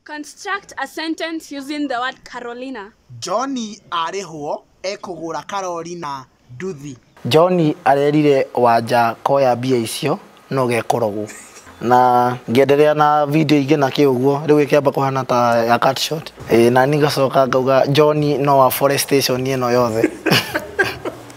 Construct a sentence using the word Carolina. John arĩhwo ekũgũra Carolina nduthi. John arerire wanja koya mbia icio no gekorogu. Na ngĩenderea na video ingĩ na kĩ ũguo rĩu ĩkĩamba kũhana ta ya cut short. Ĩĩ na niĩ ngacoka ngauga John no afore station ĩno yothe.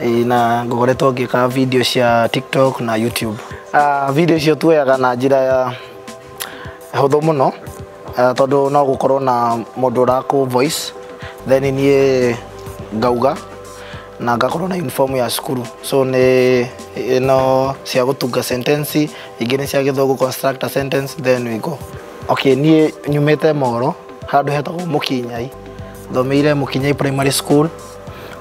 Ĩĩ, na ngoretwo ngĩka video cia tiktok na youtube Ah, video icio tuoyaga na njĩra ya hũthũ mũno ah, tondũ no gũkorwo na mũndũ ũrakũ voice then niĩ ngauga na ngakorwo na uniform ya cukuru so nĩ ĩno cia gũtunga sentence ingĩ nĩ cia gĩthũngũ construct a sentence then we go okay niĩ nyumĩte moro handũ hetagwo mũkinyai thomeire mũkinyai primary school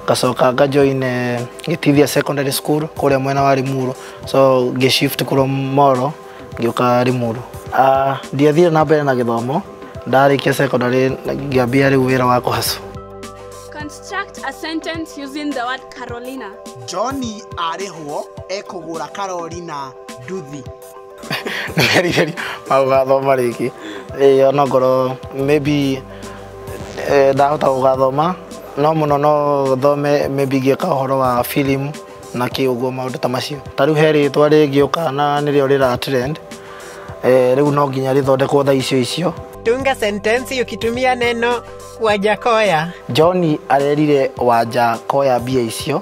ngacoka nga join eh, gĩtithia secondary school kũrĩa mwena wa rimuru so ngĩ shift kũrwo moro ngĩũka rimuru Ah, ndiathire na mbere na gĩthomo ndarĩkia secondary ngĩambia rĩu wĩra wa kũhacu Construct a sentence using the word Carolina. John arĩhwo ekũgũra Carolina nduthi. nĩgerigeri mau gathoma rĩngĩ ĩĩ ona ngorwo maybe eh, ndahota gũgathoma no mũno no thome maybe ngĩka ũhoro wa film na kĩ ũguo maũndũ ta macio ta rĩu he rĩtwa rĩngĩũka na nĩrĩo rĩra trend eh, rĩu no nginya rĩthondekwo tha icio icio Tunga sentensi ukitumia neno Wajakoya. John arerire wanja koya mbia icio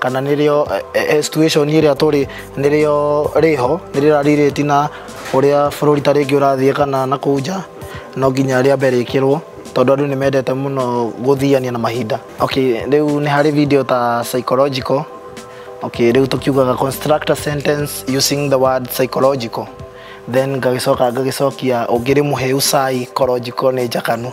kana nĩrĩo eh, eh, situation ĩrĩa tũrĩ nĩrĩo rĩho nĩrĩrarirĩti na ũrĩa bũrũri ta rĩngĩ ũrathiĩ kana na kũu nja no nginya rĩa mbere ĩkĩrwo tondũ andũ nĩ mendete mũno gũthiania na mahinda okay rĩu nĩ harĩ video ta psychological okay rĩu tũkiugaga construct a sentence using the word psychological then ngagĩcoka ngagĩcokia ũngĩrĩ mũhĩu cai korojiko nĩ njakanu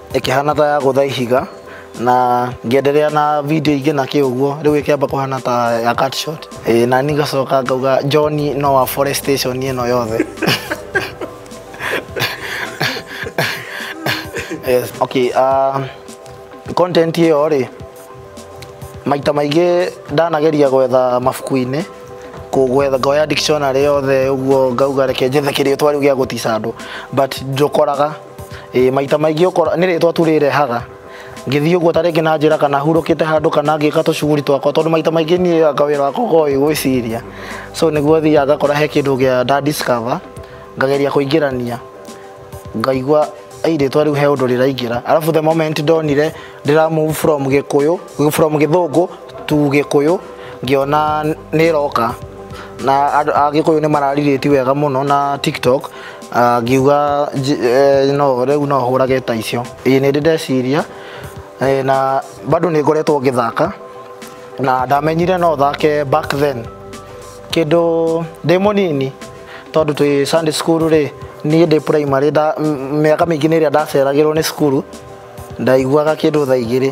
ĩkĩhana ta ya gũtha ihiga na ngĩenderea na video ingĩ na kĩ ũguo rĩu ĩkĩamba kũhana ta ya cut shot e, na ni ngacoka ngauga John no wa forestation ĩno yothe yes okay uh, content ĩyo rĩ maita maingĩ ndanageria gwetha mabuku-inĩ kũgwetha ngoya dictionary yothe ũguo ngauga reke njethe kĩrĩtwa rĩu gĩa gũtica andũ but njokoraga ĩ maita maingĩ ũkora nĩ rĩtwa tu rĩrehaga ngĩthiĩ ũguo ta rĩngĩ na njĩra kana hurũkĩte handũ kana ngĩka tũcuguri twakwa tondũ maita maingĩ niĩ anga wĩra wakwa ũkoragwo wĩ gwĩciria so nĩguo thiaga ngakora he kĩndũ gĩa nda discover ngageria kũingĩrania ngaigua "Ei, rĩtwa rĩu he ũndũ rĩraingĩra arabu the moment ndonire ndĩra move from gĩkũyũ from gĩthũngũ to gĩkũyũ ngĩona nĩroka na andũ a gĩkũyũ nĩ mararirĩti wega mũno na tiktok Ah, ngiuga nji- eh, no rĩu no hũrage ta icio ĩĩ nĩ ndĩ ndeciria eh, na bado nĩ ngoretwo ngĩthaka na ndamenyire no thake back then kĩndũ ndĩ mũnini tondũ twĩ Sunday school rĩ niĩ ndĩ primary nda- m- mĩaka mĩingĩ nĩ ĩrĩa ndaceragĩrwo nĩ cukuru ndaiguaga kĩndũ thaa igĩrĩ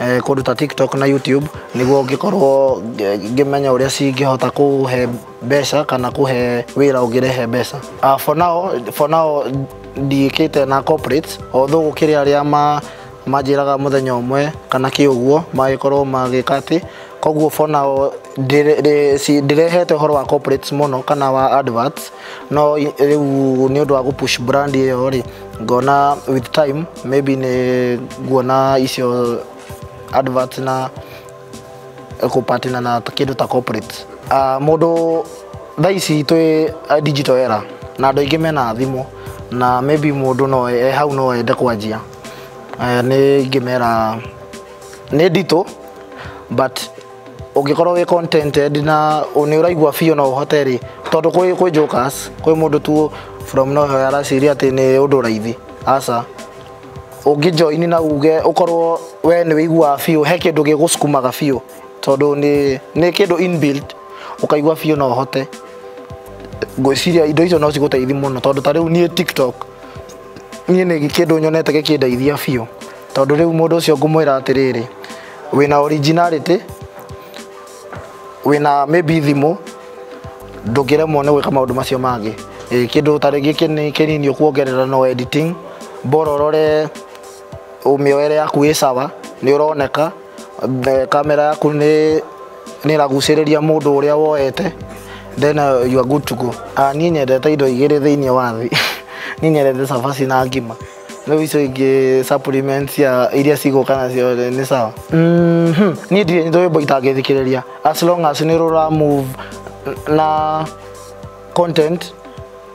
eh, kũndũ ta tiktok na youtube nĩguo ngĩkorwo ngĩ- ngĩmenya ũrĩa cingĩhota kũhe mbeca kana kũhe wĩra ũngĩrehe mbeca Ah, for now for now ndiĩkĩte na corporates although gũkĩrĩ arĩa ma manjĩraga mũthenya ũmwe kana kĩ ũguo magĩkorwo magĩka atĩ koguo for now Ndĩre- ndĩ- si- ndirehete ũhoro wa corporates mũno kana wa adverts no i- rĩu nĩ ũndũ wa gũpush brand ĩyo rĩ ngona with time maybe nĩ nguona icio adverts na kũpatina na t- kĩndũ ta corporate uh, mũndũ thaa ici twĩ uh, digital era na andũ aingĩ mena thimũ na maybe mũndũ no e hau no ende kwanjia uh, nĩ ingĩmera nĩ nditũ but ũngĩkorwo wĩ contented na nĩ ũraigua biũ no ũhote rĩ tondũ kwĩ kwĩ jokers kwĩ mũndũ tu from nowhere araciria atĩ nĩ ũndũ raithi aca ũngĩ join na uge ũkorwo we nĩ wĩiguaga biũ he kĩndũ gĩgũsukumaga biũ tondũ nĩ nĩ kĩndũ inbuilt ũkaigua biũ no ũhote ngwĩciria indo icio no cigũteithie mũno tondũ ta rĩu niĩ tiktok niĩ nĩ kĩndũ nyonete gĩkĩndeithia biũ tondũ rĩu mũndũ ũcio ngũmwĩra atĩrĩrĩ wĩna originality wĩna maybe thimũ ndũngĩremwo nĩ gwĩka maũndũ macio mangĩ Ĩ, kĩndũ ta rĩngĩ kĩnĩ- kĩnini ũkuongerera no editing bora ũrore mĩoere yaku ĩ sawa nĩ ũroneka The- kamera yaku nĩ nĩ ĩragucĩrĩria mũndũ ũrĩa woete then uh, you are good to go Ah, niĩ nyendete indo igĩrĩ thĩinĩ wa thĩ niĩ nyendete cabaci na ngima rĩu icio ingĩ supplements cia iria cigũka nacio rĩ, nĩ sawa Mhm. niĩ ndirĩ nyitwo wĩmbo itangĩthikĩrĩria as long as nĩ rũra move na content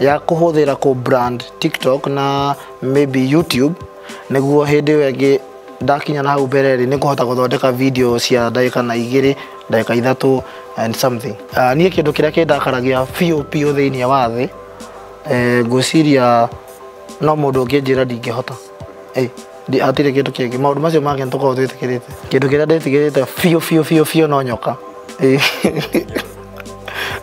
ya kuhuthira ku brand tiktok na maybe youtube niguo hindi iyo ingi ndakinya na hau mbere ri nikuhota guthondeka video cia ndagika na igiri ndagika ithatu and something uh, nie kindu kiria kindakaragia biu biu thiini wa thi eh, ngwiciria no mundu unginjira ndingihota Ĩ, ndi- hatirĩ kĩndũ kĩngĩ maũndũ macio mangĩ nĩtũkorwo twĩtĩkĩrĩte kĩndũ kĩrĩa ndĩtigĩrĩte biũ biũ biũ biũ no nyoka Ĩ.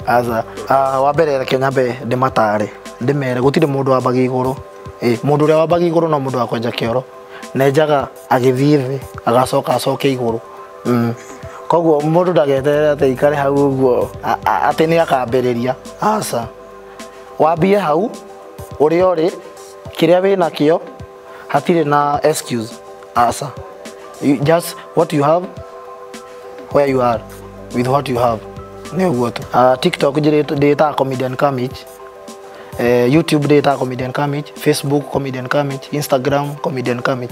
aca ah, wa mbere reke nyambe ndĩmatare ndĩmere gũtirĩ mũndũ wambaga igũrũ Ĩ, mũndũ ũrĩa wambaga igũrũ no mũndũ wa kwenja kĩoro nenjaga agĩthiĩ thĩ agacoka acoke igũrũ Mm. koguo mũndũ ndageterere atĩ ikare hau ũguo a- a- atĩ nĩ akambĩrĩria aca wambie hau ũrĩa ũrĩ kĩrĩa wĩ nakĩo hatirĩ na excuse aca You- just what you have where you are with what you have nĩ ũguo tu uh, tiktok njĩrĩ- ndĩĩtaga comedian kamich Eh, youtube ndĩĩtaga comedian kamich facebook comedian kamich instagram comedian kamich